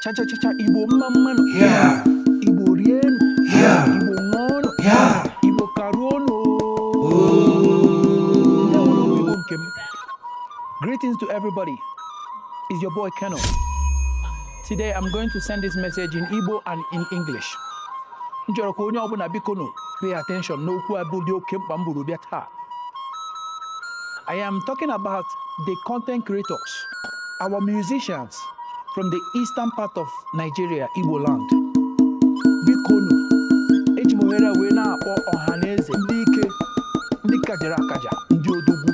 chachachacha igbo mma mmanụ igbo rienụ igbo ṅụọnụ igbo karuonụ igbo nke m greetings to everybody is your boy Keno today i'm going to send this message in igbo and in english m chọrọ ka onye ọbụla biko nụ pay attention n'okwu a bụ dị oke mkpa m buru bịa taa I am talking about the content creators, our musicians from the eastern part of Nigeria, Igbo land. Bikonu, eji m ohere a wee na-akpọ ọha na eze ndị ike, ndị kajara akaja, ndị odogwu,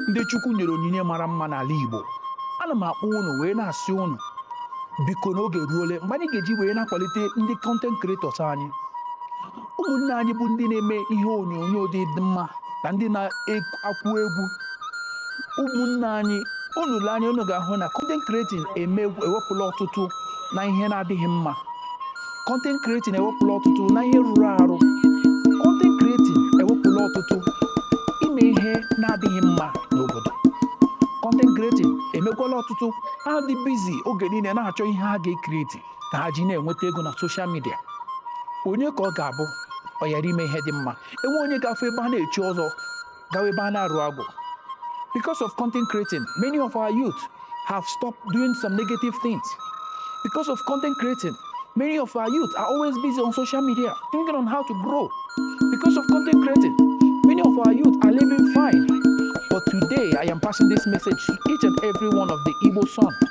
ndị Chukwu nyere onyinye mara mma n'ala Igbo. Ana m akpọ unu wee na-asị unu biko n'oge eruole mgbe anyị ga-eji wee na-akwalite ndị content creators anyị ụmụnne anyị bụ ndị na-eme ihe onyonyo dị mma na ndị na-akụ egwu ụmụnne anyị unu lee anya unu ga-ahụ na content creating ewepụla ọtụtụ na ihe na-adịghị mma content creating ewepụla ọtụtụ na ihe rụrụ arụ content creating ewepụla ọtụtụ ime ihe na-adịghị mma n'obodo content creating emekwala ọtụtụ ha dị busy oge niile na-achọ ihe ha ga-ekreti ka ha ji na-enweta ego na social media onye ka ọ ga-abụ ọ ghara ime ihe dị mma enwe onye ga-afụ ebe a na-echi ọzọ gawa ebe a na-arụ agwụ because of content creating many of our youth have stopped doing some negative things because of content creating many of our youth are always busy on social media thinking on how to grow because of content creating many of our youth are living fine but today i am passing this message to each and every one of the igbo son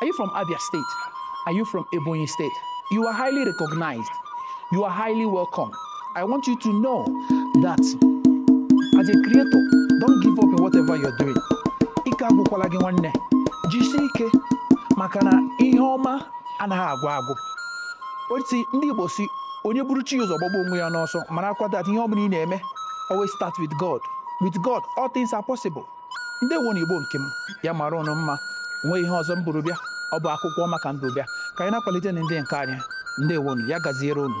Are you from Abia State? Are you from Ebonyi State? You are highly recognized. You are highly welcome. I want you to know that as a creator, don't give up in whatever you're doing. Ike agwụkwala gị nwanne. Jisie ike maka na ihe ọma anaghị agwụ agwụ. Otu ndị Igbo si onye buru chi ụzọ gbagbuo onwe ya n'ọsọ marakwa that ihe ọ bụla ị na-eme always start with God. With God, all things are possible. ndewonụ igbo nke m ya mara unu mma nwee ihe ọzọ m buru bịa ọ bụ akụkọ ọma ka m bu bịa ka anyị na-akwalitenụ ndị nke anyị ndewonụ ya gaziere unu